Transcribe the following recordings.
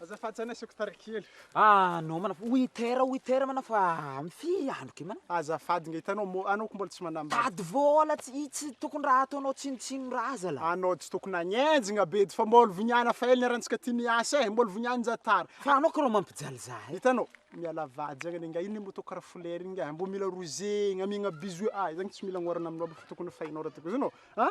Azafady zany asiako tary kely. Ah non mana winter winter mana fa mify andro ke mana. Azafady nga hitanao mo anao ko mbola tsy manambady. Tady vola tsy tsy tokony raha ataonao tsinotsino raha zala. Anao tsy tokony agnenjigna be fa mbola voniana fa ela niarantsika ty niasa e, mbola vonianinja tara. Fa anao ko rô mampijaly za e. Hitanao miala vady zagny anie nga ino le moto kara folera iny nga mbo mila rozegna amiagna bisous ah zagny tsy mila agnorana aminao aby fa tokony fainao raha tokony zany ô a.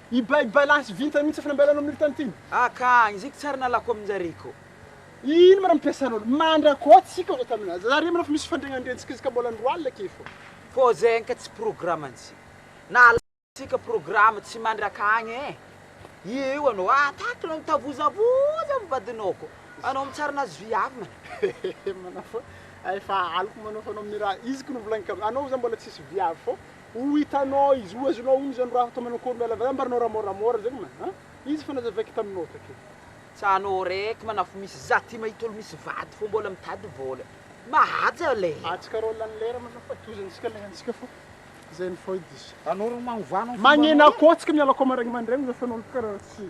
I Bay Bay lasa vintana mihitsy fnamby alana amin'io tany ity. Ah ka, injiko tsara nalako aminjareo ko. Ino ma ra mipiasa lolo. Mandrakôa tsika zao tany na. Zare manao fa misy fandriagnandriantsika izy ka mbôla andro alina ake fô. Fô zegny ka tsy programantsika. Na alala tsika programa tsy mandrakagny eh. Ie io anao ah taky anao mitavozavoza am vadinao ko. Anao mitsara nazy viavy mana. Hehe manao fa efa aliko manao fa anao amin'ny raha izy ko novolagniko anao za mbola tsisy viavy fô Ho hitanao izy, ho azonao onja ny raha ataonao akory miala avy any ambaranao raha môramôra zegny ma a! Izy efa nazavaiko taminao takeo. Tsano raiky manafo misy za ty mahita olo misy vady fô mbôla mitady vôla. Mahaja lera. Atsika rô lany lera ma zafady tohizo antsika lera antsika fô zay ny fô edy izy. Anao rô magnovano ny fombanao. Magnena kô tsika miala kô maraigny mandraigny zafady anao bôka raha tsy.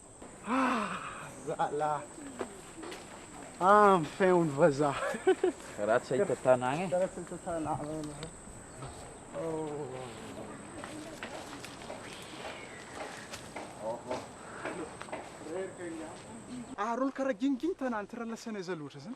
Ah! Zalah! Ah! Enfin hono vazaha! Karaha tsy hahita tanàgna e! Karaha tsy hahita tanàgna enao e! Ohh! Reraka i Rianto! Ary hono karaha gingin tanàna ty raha lasanay zah loatra zany!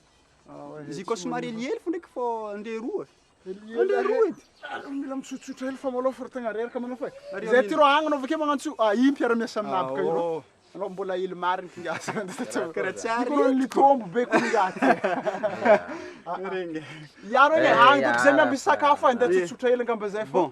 Ziko somary helihely fo ndraiky fô ndre roa. Ndre roa edy. Ary mila mitsotsotra hely fa malôha fa tegna reraka manao fa. Zay ty rô agny anao avake magnantso ah i mpiara miasa aminabaka io rô. Anao mbola hely marigny kinga asa. Kara tsy ary. Kôrô nitombo be kinga ty. Regny. Iaro anie agny dônko zay miambigny sakafo agny ndra tsotsotra hely angamba zay fô.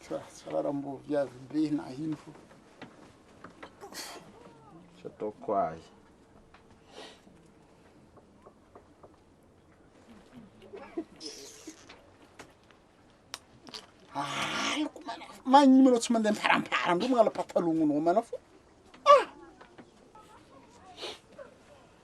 Tsara mbo viavy be na ino fo. Tsy ataoko ahy. Aloko mana fo. Magnino manao tsy mandeha miparampara ndreo magnala patalognonao mana fo. Ah!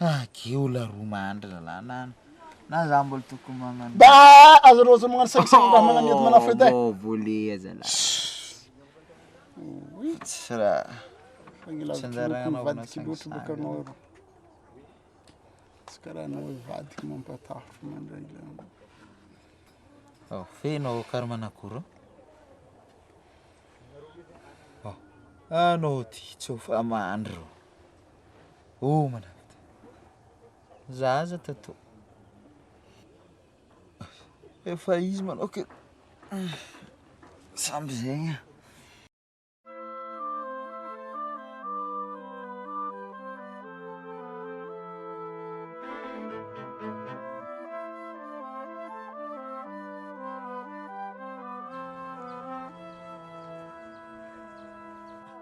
Agy ola roa mandry lalàna any na za mbola tokony magnano Da aza rô aza magnano saigny saigny raha magnano edy magnano fête e. Voavolea zala. Vitsy raha. Fa ny lavitry ny lokon'ny vadiko loatra bôka anao rô. Tsy karaha anao hoe vadiko mampatahotra mandray lamba. Ô feno ô karma an'akory ô. Ô anao ty tsy ho fa mandry ô. Oh manakata. Za aza tato. Efa izy manao ke. Samby zegny a.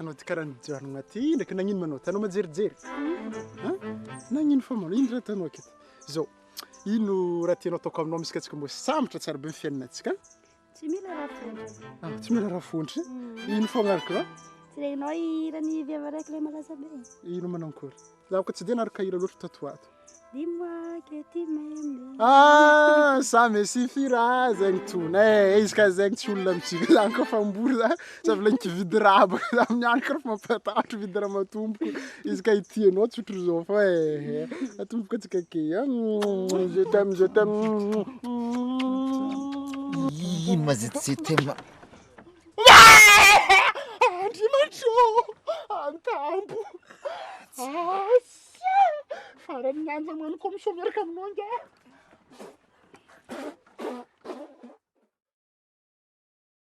Anao ty karaha nijanogna ty ndraiky nagnino ma anao ty? Anao manjerijery? An? Nagnino fa ma anao? Ino raha ataonao aketo? Zao, ino raha tianao ataoko aminao misy ka antsika mbô hisambotra tsara be ny fiainantsika an? Tsy mila raha fontry. Ah, tsy mila raha fontry. Ino foagna ary ka? Tsy renao hiran'ny vehivavy araiky ilay malaza be. Ino manao akory? Zaho ka tsy dia naraka hira loatra tato ato. Dis-moi que tu m'aimes. Ah, ça me suffira zegny tona. Eh, izy ka zegny tsy olona mitsika zany koa fa mbola Za mbola nikividy raha baka za amin'ny andro karafa mampatahotra vidy raha matomboko izy ka ity anao tsy ohatry zao fa eh atomboko atsika ke je t'aime je t'aime ino ma zety je t'aime andriamanitro antambo asa farany nanja mano komiso miaraka aminao nga